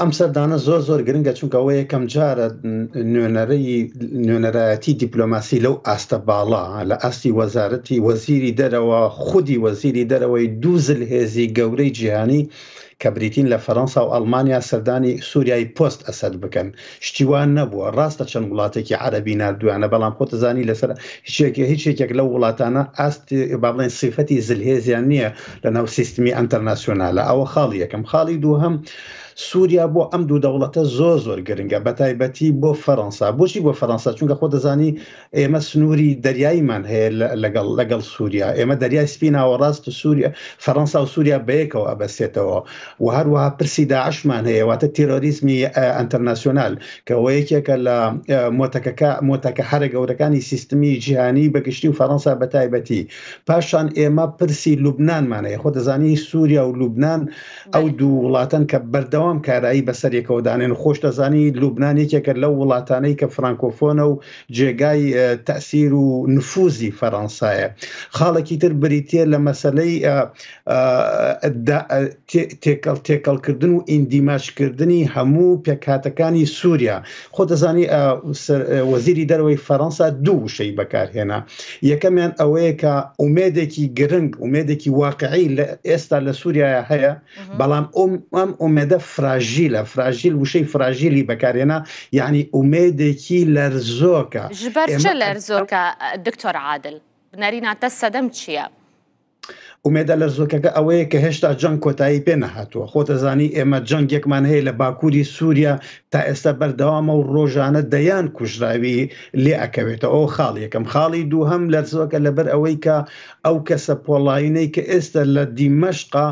ئەم سەردانە زۆر زۆر گرنگە چونکەەوە یەکەم جارە نوێنەرەی نوێنەرایەتی دیپلۆماسی لەو ئاستە باڵا لە ئاستی وەزارەتی وەزیری دەرەوە خودی وەزیری دەرەوەی دووزل هێزی گەورەی جیهانی کە بریتین لە فەرەنسا و ئەلمانیا سەردانی سووریای پۆست ئەسد بکەن شتی وا نەبووە ڕاستە چەند وڵاتێکی عەرەبی نردویانە بەڵام خۆتزانی لەسەر هیچێکی هیچ یەکێک لەو وڵاتانە ئاست با بڵێن سیفەتی زلهێزیان نییە لە ناو سیستمی ئەتەرناسیۆنالە ئەوە خاڵی یەکەم خاڵی دووهم سووریا بۆ ئەم دوو دەوڵەتە زۆر زۆر گرنگە بە تایبەتی بۆ فەەنسا بۆچی بۆ فەەنسا چونکە خۆ دەزانی ئێمە سنووری دەریاییمان هەیە لەگەڵ لەگەڵ سووریا ئێمە دەریای سپی ناوەڕاست و سووریا فەڕەنسا و سووریا بەیەکەوە ئەبەسێتەوە و هەروەها پرسی داعشمان هەیە واتە تیرۆریزمی ئەتەرناسیۆنال کەەوە یەکێکە لە مۆتەکەکە مۆتەکە هەرە گەورەکانی سیستمی جیهانی بەگشتی و فەڕەنسا بە تایبەتی پاشان ئێمە پرسی لوبنانمان هەیە خۆ دەزانی سووریا و لوبناان ئەو دوو وڵاتەن کە بەردەوام کارایی بەسەرێکەوە دانێن خۆش دەزانی لوبناان یەکێکە لەو وڵاتانەی کە فرانکۆفۆنە و جێگای تەئسیر و نفوزی فەرەنسایە. خاڵێکی تر بریتییە لە مەسەلەی تێکەڵ تێکەڵ کردن و ئیندیماج کردنی هەموو پێکهاتەکانی سووریا. خۆ دەزانی وەزیری دەرەوەی فەرەنسا دوو وشەی بەکارهێنا. یەکەمیان ئەوەیە کە ئومێدێکی گرنگ ئومێدێکی واقعی لە ئێستا لە سووریایە هەیە، بەڵام ئەم ئەم ئومێدە فراژیلە فراژیل وشەی فراژیلی بەکارێنا یعنی ئومێدێکی لەرزۆکە ژبەرچە لەرزۆکە دکتۆر عادل بنەریناتە سەدەم چییە؟ ئومێدە لە زۆکەکە ئەوەیە کە هێشتا جەنگ کۆتایی پێ نەهاتووە خۆتەزانی ئێمە جەنگێکمان هەیە لە باکووری سووریا تا ئێستا بەردەوامە و ڕۆژانە دەیان کوژراوی لێ ئەکەوێتە ئەو خاڵ یەکەم خاڵی دووهم لەرزۆکە لەبەر ئەوەی کە ئەو کەسە پۆڵاینەی کە ئێستە لە دیمەشقە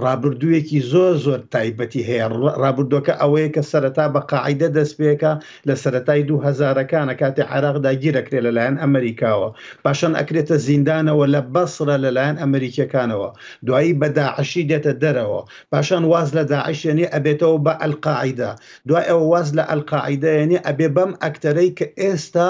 ڕابردوویەکی زۆر زۆر تایبەتی هەیە ڕابردووەکە ئەوەیە کە سەرەتا بە قاعدە دەست پێکە لە سەرەتای دوو هەزارەکانە کاتی عێراق داگیرەکرێت لەلایەن ئەمریکاوە پاشان ئەکرێتە زیندانەوە لە بەسرە لەلایەن ئەمریکیەکانەوە دوایی بە داعشی دێتە دەرەوە پاشان واز لە داعشێنی ئەبێتەوە بە ئەلقاعدە دوای ئەوە واز لە ئەلقاعدەیەنی ئەبێ بەم ئەکتەرەی کە ئێستا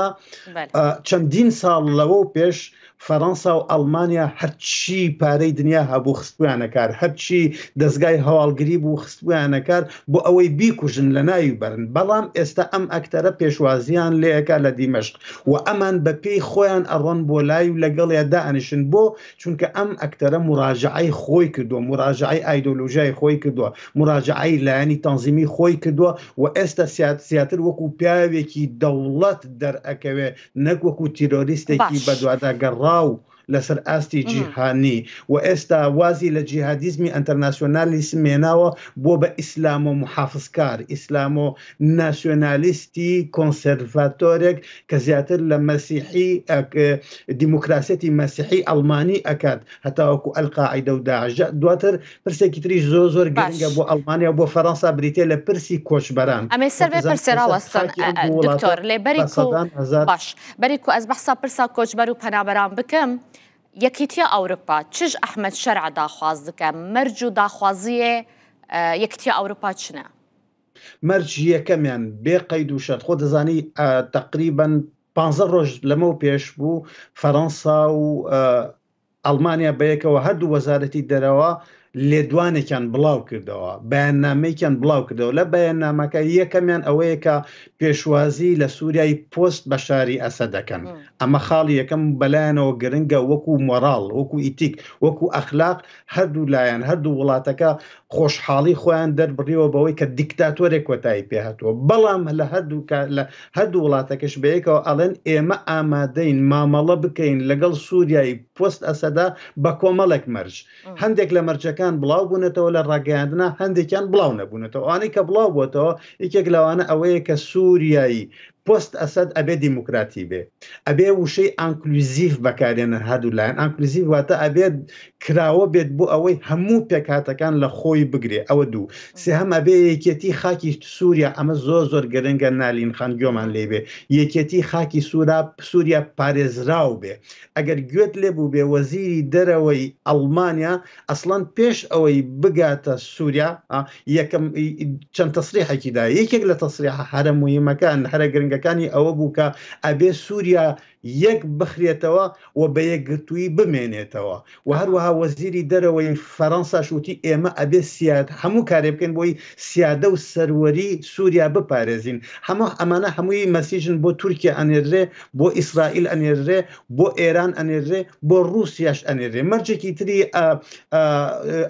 چەندین ساڵ لەوە و پێش فەرەنسا و ئەڵمانیا هەرچی پارەی دنیا هەبوو خستبوویانە کار، هەرچی دەزگای هەواڵگری بوو خستبوویانە کار بۆ ئەوەی بیکوژن، لەناوی بەرن، بەڵام ئێستا ئەم ئەکتەرە پێشوازییان لێکا لە دیمەشق و ئەمان بە پێی خۆیان ئەڕۆن بۆ لای و لەگەڵیا دائەنیشن، بۆ؟ چونکە ئەم ئەکتەرە موراجەعەی خۆی کردووە، موراجەعەی ئایدۆلۆژیای خۆی کردووە، موراجەعەی لایەنی تەنزیمی خۆی کردووە و ئێستا زیاتر وەکو پیاوێکی دەوڵەت دەرئەکەوێ نەک وەکو تیرۆریستێکی بەدوادا گەڕاو لەسەر ئاستی جیهانی و ئێستا وازی لە جیهادیزمی ئەتەرناسیۆنالی سمێناوە بۆ بە ئیسلام و محافزکار ئیسلام و ناسیۆنالیستی کۆنسرڤاتۆرێک کە زیاتر لە مەسیحی دیموکراسەتی مەسیحی ئەلمانی ئەکات هەتاوەکو ئەلقاعدە و داژە دواتر پرسێکی تریش زۆ زۆر گرنگە بۆ ئەڵمانیا بۆ فەرەنسا بریتە لە پرسی کۆچبەران ئەمێ سەر پرسێراوەستۆر لێ بەری باش بەری کو ئەس بەحسا پرسا کۆچبەر و پەنابەران بکەم یەکیتیە ئەوروپا چش ئەحمد شەرع داخواز دکە مەرج و داخوازیە یەکتیە ئەوروپا چنە مەرج یەکەمیان بێ قەید و شەر خۆ دەزانی تقریبن پ ڕۆژ لەمە پێش بوو فەەنسا و ئەڵمانیا بەیەکەوە هەردوو وەزارەتی دەرەوە لێدوانێکیان بڵاوکردەوە، بەیاننامەیەکیان بڵاوکردەوە، لە بەیاننامەکە یەکەمیان ئەوەیە کە پێشوازی لە سوریای پۆست بەشاری ئەسەد دەکەن، ئەمە خاڵی یەکەم و بەلایانەوە گرنگە وەکو مۆراڵ، وەکو ئیتیک، وەکو ئەخلاق هەردوو لایەن، هەردوو وڵاتەکە خۆشحاڵی خۆیان دەربڕیەوە بەوەی کە دیکتاتۆرێک کۆتایی پێهاتووە بەڵام لە هەردوو لە هەردوو وڵاتەکەش بەیەکەوە ئەڵێن ئێمە ئامادەین مامەڵە بکەین لەگەڵ سووریایی پۆست ئەسەدا بە کۆمەڵێک مەرج هەندێک لە مەرجەکان بڵاو بوونەتەوە لە ڕاگەیاندنا هەندێکیان بڵاو نەبوونەتەوە ئەوانەی کە بڵاو بۆتەوە یەکێک لەوانە ئەوەیە کە سووریایی پۆست ئەسەد ئەبێ دیموکراتی بێ ئەبێ وشەی ئانکلوزیڤ بەکارێنن هەردوو لایەن ئانکلوزیڤ واتە ئەبێ کراوە بێت بۆ ئەوەی هەموو پێکهاتەکان لە خۆی بگرێ ئەوە دوو سێهەم ئەبێ یەکێتی خاکی سووریا ئەمە زۆر زۆر گرنگە نالین خان گۆمان لێ بێ یەکێتی خاکی سوورا سووریا پارێزراو بێ ئەگەر گوێت لێ بوو بێ وەزیری دەرەوەی ئەڵمانیا ئەسڵەن پێش ئەوەی بگاتە سووریا یەکەم چەند تەسریحێکی دا یەکێک لە تەسریح هەرە مهمەکان هەرە گرنگەکانی ئەوە بوو کە ئەبێ سووریا یەک بخرێتەوە و بە یەکگرتووی بمێنێتەوە و هەروەها وەزیری دەرەوەی فەرەنسا شووتی ئێمە ئەبێ سیاد هەموو کارێ بکەین بۆی سیادە و سەروەری سووریا بپارێزین هەموو ئەمانە هەمووی مەسیژن بۆ تورکیا ئەنێرێ بۆ ئیسرائیل ئەنێرێ بۆ ئێران ئەنێرێ بۆ ڕوسیاش ئەنێرێ مەرجێکی تری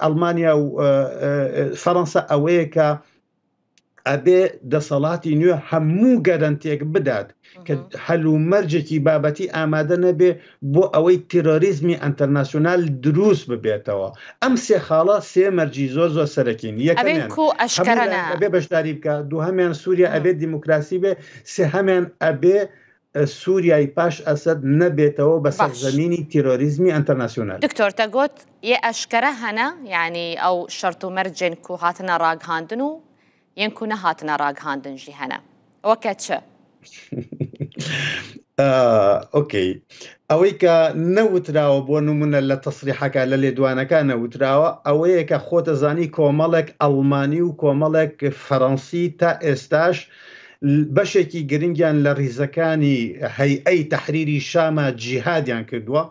ئەڵمانیا و فەرەنسا ئەوەیە کە ئەبێ دەسەڵاتی نوێ هەموو گەرنتێک بدات کە هەل و مەرجێکی بابەتی ئامادە نەبێ بۆ ئەوەی تیرۆریزمی ئەتەرناسیۆنال دروست ببێتەوە ئەم سێ خاڵە سێ مەرجی زۆر زۆر سەرەکین یەکەێ بەشداری بکە دوهمیان سووریا ئەبێت دیموکراسی بێ سێهمیان ئەبێ سوریای پاش ئەسەد نەبێتەوە بە سەر باش. زەمینی تیرۆریزمی ئەنتەرناسیونال. دکتۆر تە گۆت یێ ئەشکەرە هەنە یانی ئەو شەرت و مەرج جێن کو هاتنە راگهاندن و یێن کو نەهاتنە راگهاندن ژی هەنە وە کە چ؟ ئۆکەی ئەوەی کە نەوتراوە بۆ نمونە لە تەسریحەکە لە لێدوانەکە نەوتراوە ئەوەیە کە خۆتە زانی کۆمەڵێک ئەڵمانی و کۆمەڵێک فەرەنسی تا ئێستاش بەشێکی گرنگیان لە ریزەکانی هەیئەی تەحریری شامە جیهادیان کردووە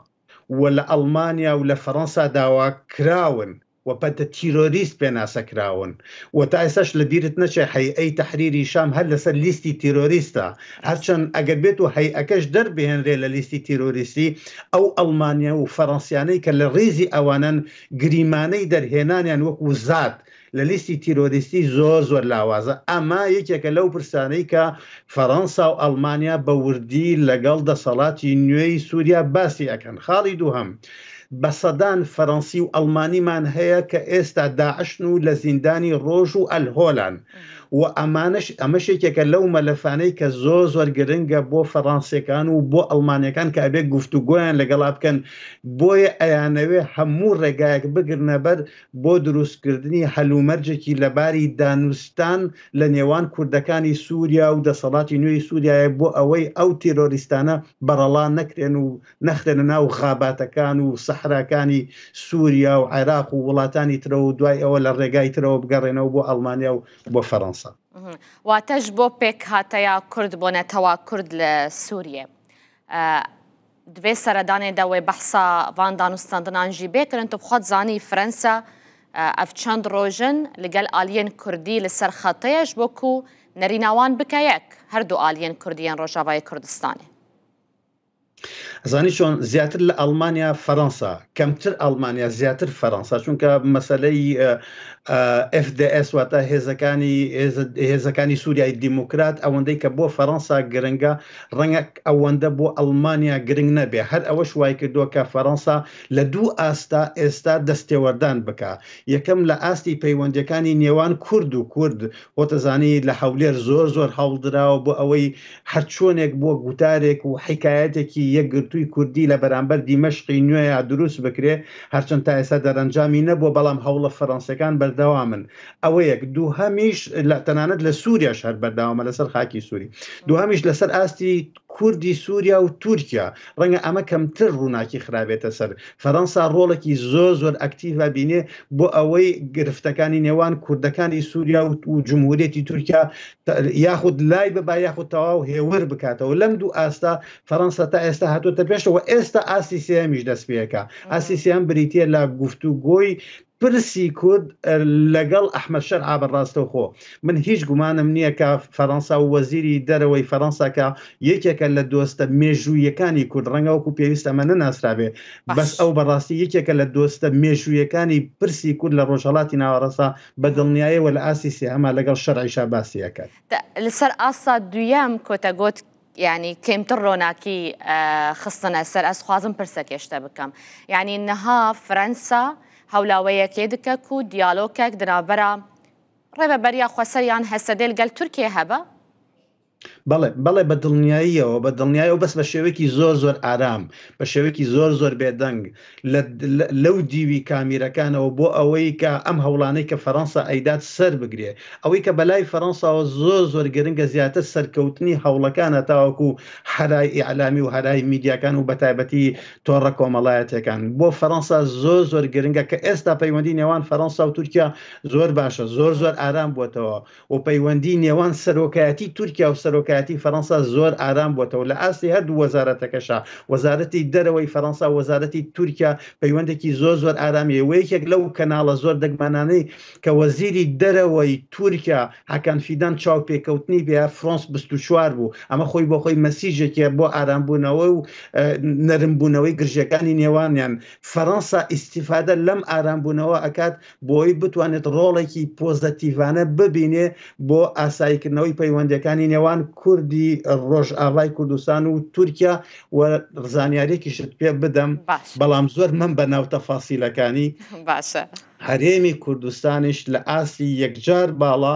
و لە ئەڵمانیا و لە فەرەنسا داواکراون و بە تیرۆریست پێناسە کراون و تا ئێستاش لە بیرت نەچێت هەیئەی تەحریری شام هەر لەسەر لیستی تیرۆریستە هەرچەند ئەگەر بێت و هەیئەکەش دەربهێنرێت لە لیستی تیرۆریستی ئەو ئەڵمانیا و فەرەنسیانەی کە لە ریزی ئەوانەن گریمانەی دەرهێنانیان وەکو زات لە لیستی تیرۆریستی زۆر زۆر لاوازە، ئەمە یەکێکە لەو پرسانەی کە فەرەنسا و ئەڵمانیا بە وردی لەگەڵ دەسەڵاتی نوێی سوریا باسی ئەکەن. خاڵی دووهەم، بە سەدان فەرەنسی و ئەڵمانیمان هەیە کە ئێستا داعشن و لە زیندانی ڕۆژ و ئەلهۆلان و ئەمانەش ئەمەش یەکێکە لەو مەلەفانەی کە زۆر زۆر گرنگە بۆ فەرانسیەکان و بۆ ئەڵمانیەکان کە ئەبێ گفتوگۆیان لەگەڵا بکەن بۆیە ئەیانەوێ هەموو ڕێگایەک بگرنە بەر بۆ دروستکردنی هەلومەرجێکی لەباری دانوستان لە نێوان کوردەکانی سوریا و دەسەڵاتی نوێی سوریایە بۆ ئەوەی ئەو تیرۆریستانە بەڕەڵا نەکرێن و نەخرێنە ناو خاباتەکان و سەحراکانی سوریا و عێراق و وڵاتانی ترە و دوای ئەوە لە ڕێگای ترەوە بگەڕێنەوە بۆ ئەڵمانیا و بۆ فەرەنسا. واتەش بۆ پێکهاتەیا کورد بۆ نەتەوا کورد لە سوریە. دبێ سەردانێ دە وێ بەحسا ڤان دانوستاندنان ژی بێکرن، تو بخوات زانی فرەنسا ئەڤ چەند رۆژن لە گەل ئالیەن کوردی لە سەر خەتەیە ژبۆ کو نەریناوان بکە یەک، هەردو ئالیەن کوردیەن رۆژاڤای کوردستانێ. ئەزانی چۆن زیاتر لە ئەڵمانیا فەرەنسا کەمتر ئەڵمانیا زیاتر فەرەنسا چونکە مەسەلەی FDS واتە هێزەکانی هێزەکانی سووریای دیموکرات ئەوەندەی کە بۆ فەرەنسا گرنگە ڕەنگە ئەوەندە بۆ ئەڵمانیا گرنگ نەبێ، هەر ئەوەش وایکردووە کە فەرەنسا لە دوو ئاستدا ئێستا دەستێوەردان بکا، یەکەم لە ئاستی پەیوەندییەکانی نێوان کورد و کورد، خۆتەزانی لە هەولێر زۆر زۆر هەوڵدراوە بۆ ئەوەی هەرچۆنێک بووە گوتارێک و حیکایەتێکی یەکگرتووی کوردی لە بەرامبەر دیمەشقی نوێیا دروست بکرێ، هەرچەند تا ئێستا دەرەنجامی نەبووە، بەڵام هەوڵە فەرەنسییەکان بەردەوامن. ئەوە یەک دووهەمیش لە تەنانەت لە سووریاش هەر بەرداوامە لەسەر خاکی سووری دوهمیش لەسەر ئاستی کوردی سووریا و تورکیا ڕەنگە ئەمە کەمتر ڕووناکی خراێتە سەر فەرەنسا ڕۆڵێکی زۆ زۆر ئەکتیڤ بینێ بۆ ئەوەی گرفتەکانی نێوان کوردەکانی سووریا و جمهورێتی تورکیا یاخود لای بەبا یاخود تەواو هێور بکاتەوە لەم دوو ئاستا فەرەنسا تا ئێستا هاتوۆتە پێشەوە ئێستا ئاستی سێمیش دەست پێەکە ئاسی سیان بریتە لە گفتوگۆی پرسی کورد لەگەڵ ئەحمەد شەرع بە ڕاستەوخۆ من هیچ گومانم نییە کە فەرەنسا و وەزیری دەرەوەی فەرەنسا کە یەکێکە لە دۆستە مێژوویەکانی کورد ڕەنگە وەکو پێویست ئەمە نەناسرابێ بەس ئەو بەڕاستی یەکێکە لە دۆستە مێژوویەکانی پرسی کورد لە ڕۆژهەڵاتی ناوەڕاستە بە دڵنیایەوە لە ئاستی سێهەما لەگەڵ شەرعیشا باسی ئەکات. لەسەر ئاستا دوویەم کۆتە گۆت. یانی کەمتر ڕۆناکی خستنە سەر ئەس خوازم پرسەکێشتە بکەم یانی نەها فرەنسا هەولاوەیەکێ دکەک و دیالۆکەک دراوبەرە ڕێبە بەریا خوەسەریان هەسەدێل گەل تورکێ هەبە بەڵێ بەڵێ بە دڵنیاییەوە بە دڵنیایەوە بەس بە شێوەیەکی زۆر زۆر ئارام بە شێوەیەکی زۆر زۆر بێدەنگ لە لەو دیوی کامیرەکانەوە بۆ ئەوەی کە ئەم هەوڵانەی کە فەرەنسا ئەیدات سەر بگرێ ئەوەی کە بەلای فەرەنساوە زۆر زۆر گرنگە زیاتر سەرکەوتنی هەوڵەکانە تاوەکو هەرای ئیعلامی و هەرای میدیاکان و بە تایبەتی تۆڕە کۆمەڵایەتیەکان بۆ فەرەنسا زۆر زۆر گرنگە کە ئێستا پەیوەندی نێوان فەرەنسا و تورکیا زۆر باشە زۆر زۆر ئارام بووەتەوە و پەیوەندی نێوان سەرۆکایەتی تورکیا و سەرۆکایەتی فەرەنسا زۆر ئارام بۆتەوە لە ئاستی هەردوو وەزارەتەکەشا وەزارەتی دەرەوەی فەرەنسا وەزارەتی تورکیا پەیوەندێکی زۆر زۆر ئارامی هەیە وەیەکێک لەو کەناڵە زۆر دەگمانانەی کە وەزیری دەرەوەی تورکیا هاکان فیدان چاوپێکەوتنی پێ فرۆنس 24 بوو ئەمە خۆی بۆ خۆی مەسیژێکە بۆ ئارامبوونەوە و نەرمبوونەوەی گرژەکانی نێوانیان فەرەنسا ئیسیفادە لەم ئارامبوونەوە ئەکات بۆی بتوانێت ڕۆڵێکی پۆزەتیڤانە ببینێ بۆ ئاساییکردنەوەی پەیوەندەکانی نێوان کوردی ڕۆژئاوای کوردستان و تورکیا و زانیارێکیشت پێ بدەم بەڵام زۆر من بە ناو تەفاسیلەکانی باشە هەرێمی کوردستانیش لە ئاستی یەکجار باڵا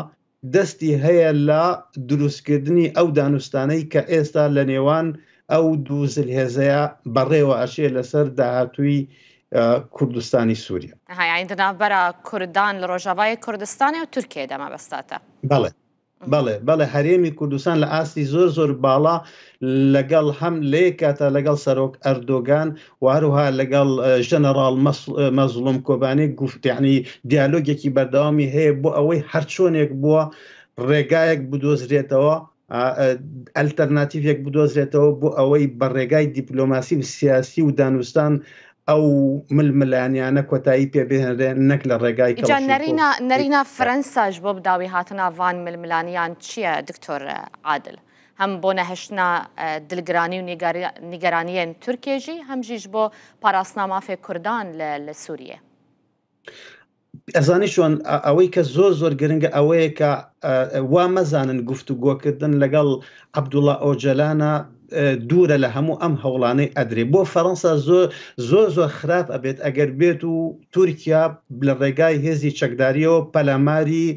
دەستی هەیە لە دروستکردنی ئەو دانوستانەی کە ئێستا لە نێوان ئەو دوو زلهێزەیە بەڕێوە ئەچێ لەسەر داهاتووی کوردستانی سووریا. ئەها یانی دە ناڤبەرا کوردان لە ڕۆژاڤای کوردستانێ و تورکیەێ دە مەبەستاتە. بەڵێ بەڵێ بەڵێ هەرێمی کوردستان لە ئاستی زۆر زۆر باڵا لەگەڵ هەم لەیەک کاتا لەگەڵ سەرۆک ئەردۆگان و هەروها لەگەڵ ژەنەڕاڵ مەزڵوم کۆبانێک گفتیانی دیالۆگێکی بەردەوامی هەیە بۆ ئەوەی هەرچۆنێک بووە ڕێگایەک بدۆزرێتەوە ئەلتەرناتیڤێک بدۆزرێتەوە بۆ ئەوەی بە ڕێگای دیپلۆماسی و سیاسی و دانوستان ئەو ململانیانە کۆتایی پێ بهێنرێ نەک لە ڕێگای نەرینا فەرەنساش بۆ بداوی هاتنناوان ململانیان چییە دکتۆر عادل هەم بۆ نەهشتنا دلگرانی و نیگەرانیەن تورکیە ژی هەم ژیش بۆ پاراستنا مافێ کوردان لە سوریە. ئەزانی چۆن ئەوەی کە زۆر زۆر گرنگە ئەوەیە کە وا مەزانن گفت و گۆکردن لەگەڵ عبدوڵە ئۆجەلانە دوورە لە هەموو ئەم هەوڵانەی ئەدرێ بۆ فەەنسا زۆر زۆر زۆر خراپ ئەبێت ئەگەر بێت و تورکیا لە ڕێگای هێزی چەکداریەوە پەلاماری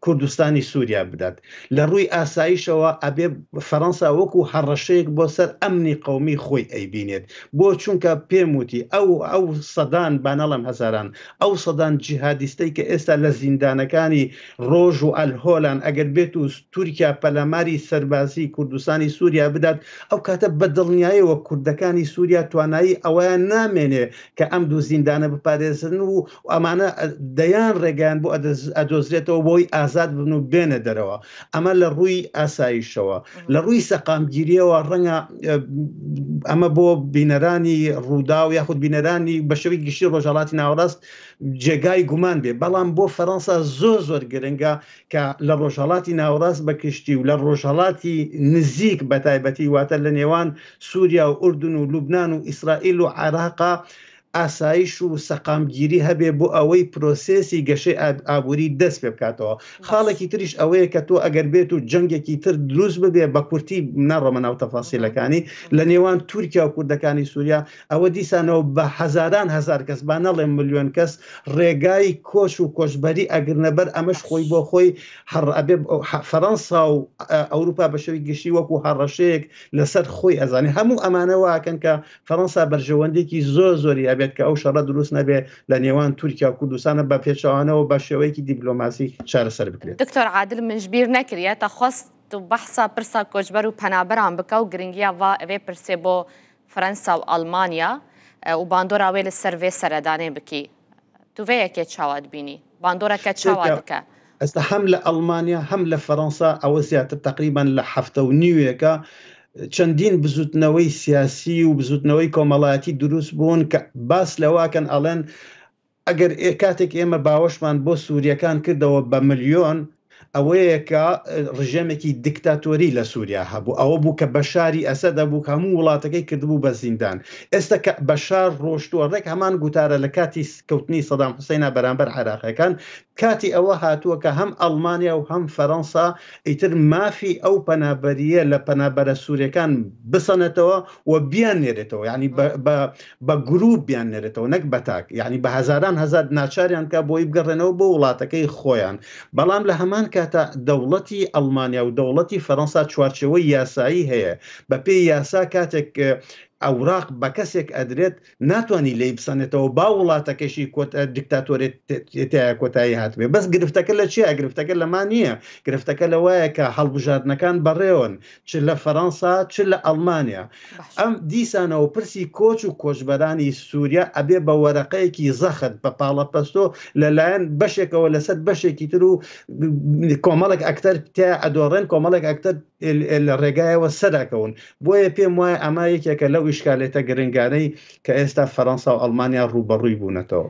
کوردستانی سوریا بدات لە ڕووی ئاسایشەوە ئەبێ فەرەنسا وەکو هەڕەشەیەک بۆ سەر ئەمنی قەومی خۆی ئەیبینێت بۆ چونکە پێم وتی ئەو ئەو سەدان بانەڵم هەزاران ئەو سەدان جیهادیستەی کە ئێستا لە زیندانەکانی ڕۆژ و ئەلهۆلان ئەگەر بێت و تورکیا پەلاماری سەربازی کوردستانی سوریا بدات ئەو کاتە بە دڵنیایەوە کوردەکانی سوریا توانایی ئەویان نامێنێ کە ئەم دوو زیندانە بپارێزن و ئەمانە دەیان ڕێگەیان بۆ ئەدۆزرێتەوە بۆی ئازاد بن و بێنە دەرەوە ئەمە لە ڕووی ئاساییشەوە لە ڕووی سەقامگیریەوە ڕەنگە ئەمە بۆ بینەرانی ڕوودا و یاخود بینەرانی بە شێوی گشتی ڕۆژهڵاتی ناوەڕاست جێگای گومان بێ بەڵام بۆ فەەنسا زۆر زۆر گرنگە کە لە ڕۆژهڵاتی ناوەڕاست بە کشتی و لە ڕۆژهڵاتی نزیک بە تایبەتی واتە لە نێوان سوریا و ئوردن و لوبنان و ئیسرائیل و عێراقە ئاسایش و سەقامگیری هەبێ بۆ ئەوەی پرۆسێسی گەشەی ئابووری دەست پێ بکاتەوە خاڵێکی تریش ئەوەیە کە تۆ ئەگەر بێت و جەنگێکی تر دروست ببێ بە کورتی ناڕۆمە ناو تەفاسیلەکانی لە نێوان تورکیا و کوردەکانی سووریا ئەوە دیسانەوە بە هەزاران هزار کەس با نەڵێ ملیۆن کەس ڕێگای کۆچ و کۆچبەری ئەگرنەبەر ئەمەش خۆی بۆ خۆی هەڕ ئەبێ فەرەنسا و ئەوروپا بە شەوی گشتی وەکو هەڕەشەیەک لەسەر خۆی ئەزانێ هەموو ئەمانە واکەن کە فەرەنسا بەرژەوەندێکی زۆر زۆری هەبێت کە ئەو شەڕە دروست نەبێ لە نێوان تورکیا و کوردستانە بە پێچوانەوە بە شێوەیەکی دیبلۆماسی چارەسەر بکرێت دکتۆر عادل منشبیر نەکریە تە خواست و بەحسا پرسا کۆچبەر و پەنابەران بکە و گرنگیا وا ئەێ پرسێ بۆ فەرەنسا و ئەڵمانیا و باندۆرا وێ لە سەر وێ سەردانێ بکی توڤەیەکێ چاوات بینی باندۆرەکە چاواتکە. ئەستا هەم لە ئەڵمانیا هەم لە فەرەنسا ئەوە زیاتر تقریبان لە هەفتە و نیوێکە چەندین بزوتنەوەی سیاسی و بزوتنەوەی کۆمەڵایەتی دروست بوون کە باس لەواکەن ئەڵێن ئەگەر ئێ کاتێک ئێمە باوەشمان بۆ سووریەکان کردەوە بە ملیۆن ئەوەیە کە ڕژێمێکی دیکتاتۆری لە سووریا هەبوو ئەوە بوو کە بەشاری ئەسە دەبوو هەموو وڵاتەکەی کردبوو بە زیندان ئێستا کە بەشار ڕۆشتووە ڕێک هەمان گوتارە لە کاتی کەوتنی سەدام حوسینا بەرامبەر عراقیەکان کاتی ئەوە هاتووە کە هەم ئەڵمانیا و هەم فەرەنسا ئیتر مافی ئەو پەنابەریە لە پەنابەرە سوورەکان بسەنێتەوە و بیان نێرێتەوە ینی بە بە گروپ بیاننێرێتەوە نەک بە تاک یعنی بە هەزاران هەزار ناچاریان بکە بۆی بگەڕێنەوە بۆ وڵاتەکەی خۆیان بەڵام لە هەمان کاتە دەوڵەتی ئەڵمانیا و دەوڵەتی فەرەنسا چوارچەوەی یاسایی هەیە بە پێی یاسا کاتێک ئەوراق بە کەسێک ئەدرێت ناتوانانی لی بسەنێتەوە با وڵاتەکەشی کۆت دیکتاتۆرێت تایە کۆتایی هاتبێ بەس گرفتەکە لە چیە گرفتەکە لەما نییە گرفتەکە لە وایە کە هەڵبژاردنەکان بەڕێون چ لە فەرەنسا چ لە ئەڵمانیا ئەم دیسانەوە پرسی کۆچ و کۆچبەرانی سووریا ئەبێ بە وەرەقەیەکی زەخت بە پاڵەپەستۆ لەلایەن بەشێکەوە لەسەر بەشێکی تر و کۆمەڵک ئەکتەر تیا ئەدۆڕێن کۆمەڵێک ئەکتەر لە ڕێگایەوە سەراکەون بۆیە پێم وایە ئەما یەکێکە لەو ئیشکالێتە گرنگانەی کە ئێستا فەرەنسا و ئەڵمانیا ڕوبەڕووی بوونەتەوە